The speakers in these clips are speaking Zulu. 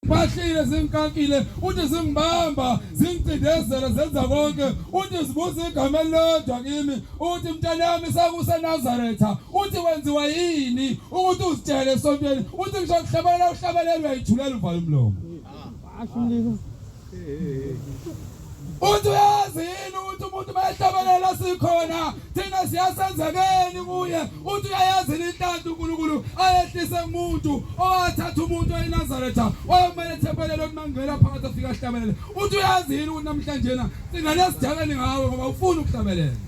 bahlile zingiqankile uthi zingibamba zingicindezela zenza konke uthi zibuza igama elilodwa kimi uthi mntanami sakusenazaretha uthi wenziwa yini ukuthi uzitshele esontweni uthi ngisho kuhlabelela uhlabelelwa yithulela uvalo umlomo uthi uyazi yini ukuthi umuntu mayehlabelela sikhona thina siyasenzekeni kuye uthi uyayazi inhlanhla uNkulunkulu ayehlise umuntu owathatha umuntu eNazaretha wayomele thempelele okunangela phakathi afika ahlabelela uthi uyazi yini ukuthi namhlanje na singanesidakeni ngawe ngoba ufuna ukuhlabelela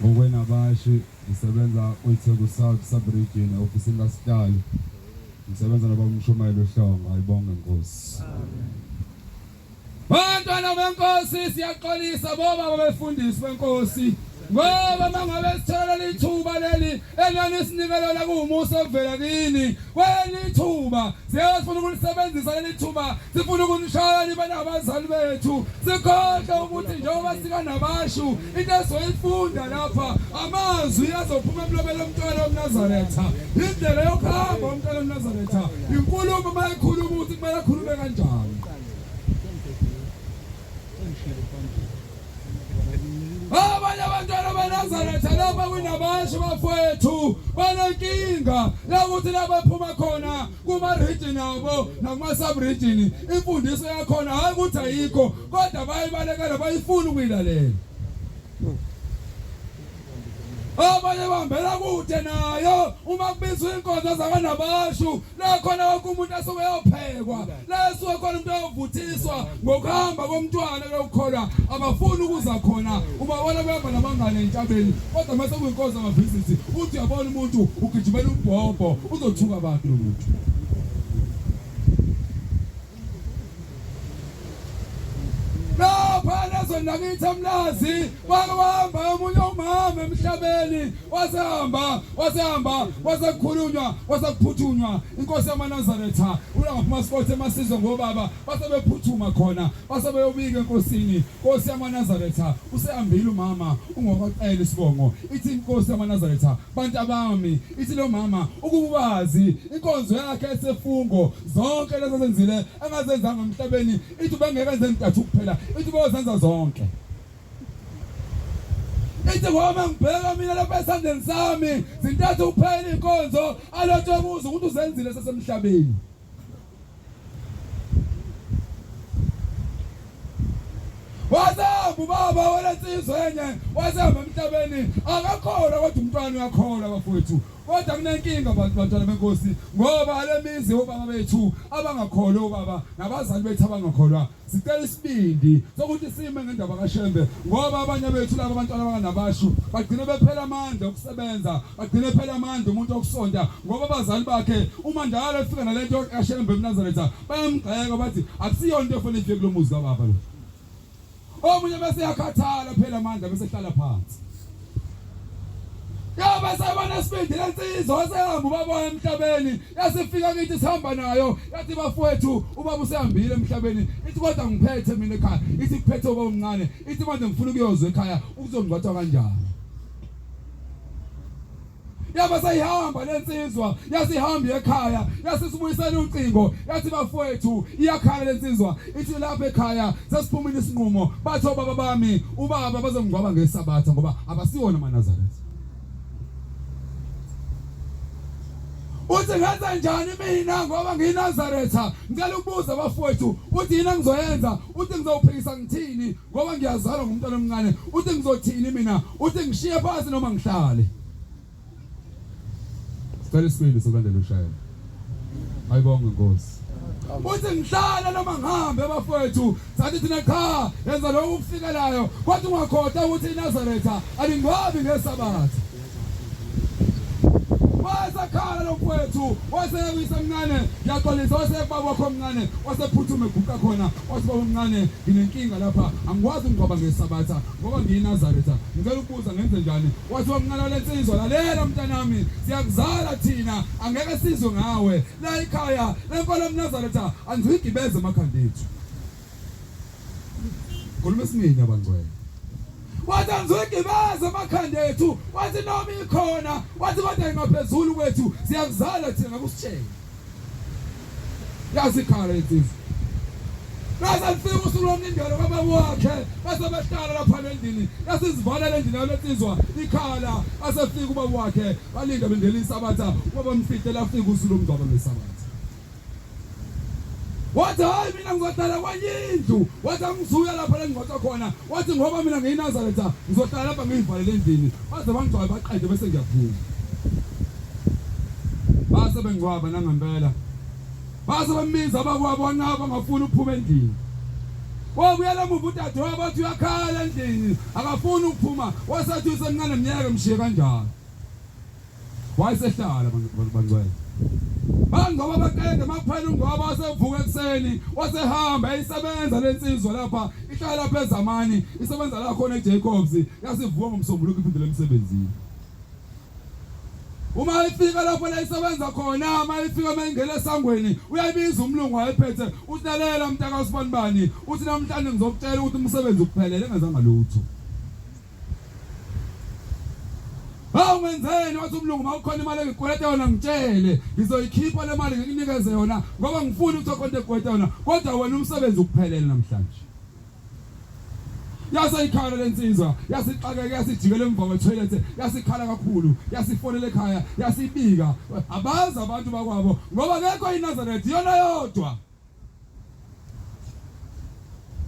NgokweNabashi, ngisebenza kwiTheku South Sub-Region e-ofisini lasihlalo. Ngisebenza nobaba uMshumayeli uHlongo. Ayibonge Nkosi. Bantwana beNkosi siyaxolisa bobaba befundisi beNkosi ngoba mangabe sitholela ithuba leli enani sinikela la kuwumusa ovela kini Kwelinye ithuba siyafuna ukulisebenzisa leli thuba, sifuna ukunishaya nibe nabazali bethu, sikhohle ukuthi njengoba sikanabashu into ezoyifunda lapha amazwi azophuma emlomeni omntwana omnazaretha indlela yokuhamba umntwana omnazaretha inkulumo uma ekhuluma ukuthi kumele akhulume kanjani abanye abantwana banazaretha lapha kwinabashi bafowethu banenkinga yokuthi labaphuma khona kuma-region abo nakuma-subregion imfundiso yakhona hhayi ukuthi ayikho kodwa bayibalekela bayifuni ukuyilalela abanye bahambela kude nayo uma kubizwa inkonzo zakanabashu lakhona wonke umuntu asuke yophekwa lesuke khona umuntu ayovuthiswa ngokuhamba komntwana lokukholwa abafuni ukuza khona uma bona behamba nabangane entabeni kodwa uma sekuyinkonzo amabhizinisi uthi uyabona umuntu ugijimela umbhobho uzothuka abantu lo muntu nakithi emlazi wake wahamba omunye umama emhlabeni wasehamba wasehamba wasekukhulunywa wasekuphuthunwa inkosi yamanazaretha ulangaphuma sikothe emasizwe ngobaba basebephuthuma khona basebeyobika enkosini nkosi yamanazaretha usehambile umama ungokocela isibongo ithi inkosi yamanazaretha bantu abami Ithi lo mama ukububazi inkonzo yakhe esefungo zonke lezi azenzile engazenzanga emhlabeni ithi ubengeke enze mntathu kuphela ithi ubeyozenza zonke ithi ngoma ngibheka mina lapha esandleni sami zintathu kuphela iy'nkonzo alotshwe kuzo ukuthi uzenzile sasemhlabeni wazama ubaba welensizwa enye wazama emhlabeni akakholwa kodwa umntwana uyakholwa bafowethu kodwa kunenkinga bantu bantwana benkosi ngoba le mizi obaba bethu abangakholwa obaba nabazali bethu abangakholwa Sicela isibindi sokuthi sime ngendaba kaShembe ngoba abanye bethu laba abantwana abanganabashu bagcine bephela amandla okusebenza bagcine phela amandla umuntu okusonta ngoba abazali bakhe uma njalo efika nalento kaShembe eMnazaretha bayamgxeka bathi akusiyo into efanele ifike kulomuzi kababa lo omunye bese yakhathala phela amandla bese hlala phansi Yaba sabona sibindi lensizwa wasehamba ubaba emhlabeni yasifika kithi sihamba nayo yathi bafowethu ubaba usehambile emhlabeni ithi kodwa ngiphethe mina ekhaya ithi kuphethe ubaba omncane ithi manje ngifuna ukuyozwa ekhaya ukuzongcwathwa kanjani yabe seyihamba lensizwa yasihamba ekhaya yasisibuyisela ucingo yathi bafowethu iyakhala lensizwa ithi lapha ekhaya sesiphumile isinqumo batho baba bami ubaba bazongcwaba ngesabatha ngoba abasiwona manazaretha uthi ngenza njani mina ngoba ngiyinazaretha ngicela ukubuza bafowethu uthi yini engizoyenza uthi ngizowuphikisa ngithini ngoba ngiyazalwa ngumntwana omncane uthi ngizothini mina uthi ngishiye phansi noma ngihlale Sicela isibindi sokulandela ushayela Ayibonge Nkosi uthi ngihlala noma ngihambe bafowethu sathi thina cha yenza lokho ukufikelayo kwathi ungakhoda ukuthi iNazaretha alingwabi ngesabatha wasakhala lo mfowethu waseyawisa mncane ngiyaxolisa wasebaba wakho omncane wasephuthume guqa khona wasibaba omncane nginenkinga lapha angikwazi ukungcwaba ngesabatha ngoba ngiyinazaretha ngicela ukubuza ngenze njani wathi wamncane wale nsizwa lalela mntanami siyakuzala thina angeke sizwe ngawe la ikhaya le mfana mnazaretha anizuyigibeze emakhanda ethu Khuluma isiningi abangcwele. Wathi angizoyigibeza amakhanda ethu, wathi noma ikhona, wathi kodwa ingaphezulu kwethu, siyakuzala thina ngakusitshela. Yazi ikhala insizwa. Bese lifika usuku lomlindelo baba wakhe bese behlala lapha endlini bese izivalela endlini yalo nsizwa ikhala asefika ubaba wakhe balinda bendelisa abatha ubaba mfihle lafika usuku lomngcwabo ngesabatha wathi hayi mina ngizohlala kwenye indlu wathi angizuya lapha lengingcwatshwa khona wathi ngoba mina ngiyinazaretha ngizohlala lapha ngiyivalele endlini baze bangigcwabe baqede bese ngiyaphuma base bengcwaba nangempela base bembiza abakwabo wanqaba ngafuna ukuphuma endlini wabuyela muva udadewabo wathi uyakhala endlini akafuni ukuphuma wasathi usemncane mnyeke mshiye kanjalo wayesehlala bangcwele bangoba baqede makuphela ungoba wasevuka ekuseni wasehamba eyisebenza lensizwa lapha ihlala lapha ezamani isebenza la khona eJacobs yasivuka ngomsombuluko iphindele emsebenzini uma ifika lapho la isebenza khona uma ifika uma ingena esangweni uyayibiza umlungu wayephethe uthi lalela mntaka usibanibani uthi namhlanje ngizokutshela ukuthi umsebenzi ukuphelele engenzanga lutho Hawu ngenzeni wathi umlungu mawukhona imali engikweleta yona ngitshele ngizoyikhipha le mali ngikunikeze yona ngoba ngifuni ukuthi okhonto ekweleta yona kodwa wena umsebenzi ukuphelele namhlanje yaseyikhala lensizwa yasixakeka yasijikela emva kwetoilet yasikhala kakhulu yasifonela ekhaya yasibika abazi abantu bakwabo ngoba kekho iNazareth yona yodwa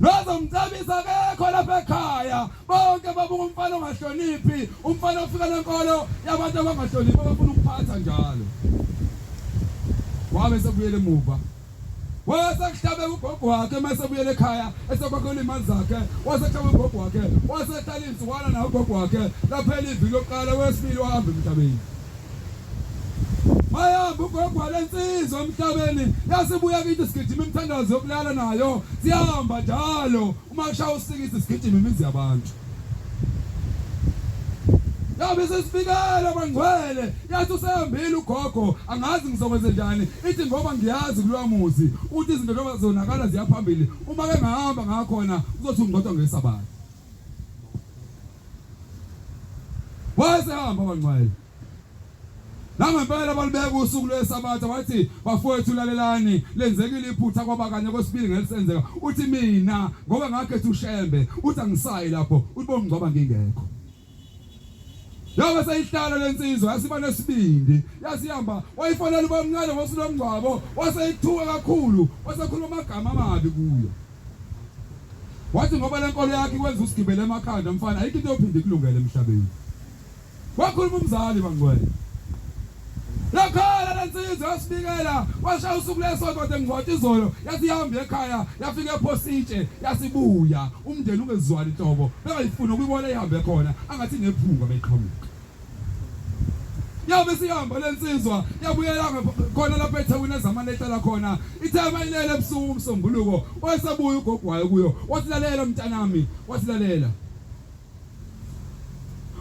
lozomcebisa akekho lapha ekhaya bonke babuka umfana ongahloniphi umfana ofika nenkolo yabantu abangahloniphi abafuna ukuphatha njalo wabe sekubuyela emuva wasehlabeka ugogo wakhe masebuyele ekhaya esekwakhela imali zakhe wasehlaba ugogo wakhe wasehlala insuwana nawo ugogo wakhe laphela iviki lokuqala wesibili wahamba emhlabeni bayahamba ugogwala ensizwa emhlabeni yasibuya kithi sigijima imithandazo yokulala nayo siyahamba njalo uma kushaya usikithi sigijima imizi yabantu yabe sesifikela bangcwele yathi usehambile ugogo angazi ngizokwenze njani ithi ngoba ngiyazi kulowa muzi uthi izinto noma zonakala ziyaphambili uma kengahamba ngakhona uzothi ungqothwa ngesabatha Wayesehamba abangcwele. Nangempela balibeka usuku lwesabatha wathi bafowethu lalelani lenzekile iphutha kwaba kanye kwesibili ngelisenzeka uthi mina ngoba ngakhetha ushembe uthi angisayi lapho uthi bomngcwaba ngingekho Yabe seyihlala lensizwa yasiba nesibindi yasihamba wayifonela ubamncane ngosuku lomngcwabo waseyithuka kakhulu wasekhuluma amagama amabi kuyo Wathi ngoba lenkolo yakhe ikwenza usigibele emakhanda mfana ayikho into yophinde ikulungele emhlabeni. Wakhuluma umzali bangcwele. Lakhona lensizwa yasibikela washaya usuku lesonto kade ngivota izolo yathi ihamba ekhaya yafika ephositshe yasibuya umndeni ungezwani nhlobo bengayifuni ukuyibona ihambe khona angathi nephunga beqhamuka. yabe sihamba lensizwa yabuyela khona lapho eThekwini ezamane ehlala khona ithe mayilele ebusuku umsombuluko wayesabuya ugogo wayo kuyo wasilalela mntanami wasilalela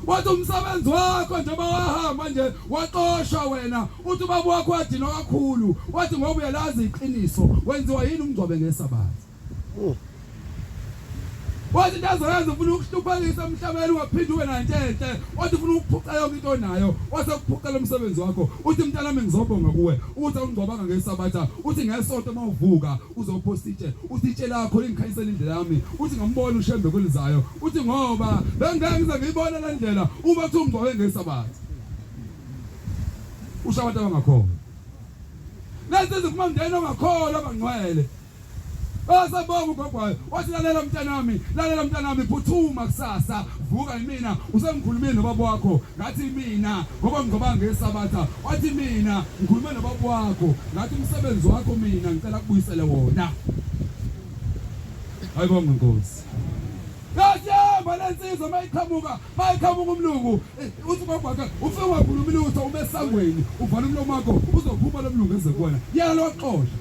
wathi umsebenzi wakho njengoba wahamba nje waxoshwa wena uthi ubaba wakho wadinwa kakhulu wathi ngoba uyalazi iqiniso wenziwa yini umngcwabe ngesabatha Oh. Wathi ndazayazi ufuna ukuhluphekisa umhlabeli waphinde ube nantenhle wathi ufuna ukuphuca yonke into onayo wase kuphucela umsebenzi wakho uthi mntanami ngizobonga kuwe ukuthi awungcwabanga ngesabatha uthi ngesonto uma uvuka uzophosta itshe uthi itshe lakho lingikhanyisela indlela yami uthi ngambona ushembe kulizayo uthi ngoba bengeke ngize ngiyibone le ndlela uma kuthi ungcwabe ngesabatha ushabantu abangakhona lezi zikumandeni ongakholwa bangcwele Asabonga oh, ugogoyo wathi lalela mntanami lalela mntanami phuthuma kusasa vuka imina usengikhulumile nobaba wakho ngathi mina ngoba ngigobanga ngesabatha wathi mina ngikhulume nobaba wakho ngathi umsebenzi wakho mina ngicela kubuyisele wona ayibonga inkosi Ngiyahamba lensizwa mayiqhamuka mayiqhamuka umlungu eh, uthi kwagwaqa ufike wakhuluma ilutho umesangweni uvala umlomo wakho uzophuma lomlungu ezekona yena loxosha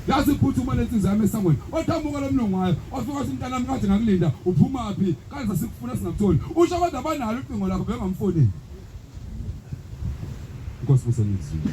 yazi iphuthuma lensiza yami esangweni odamuka lomlungu wayo wafika wathi mntanami kade ngakulinda uphumaphi kanza sikufuna singakutholi usho kodwa abanalo ucingo lakho bengamfoneli inkosi kusenizwile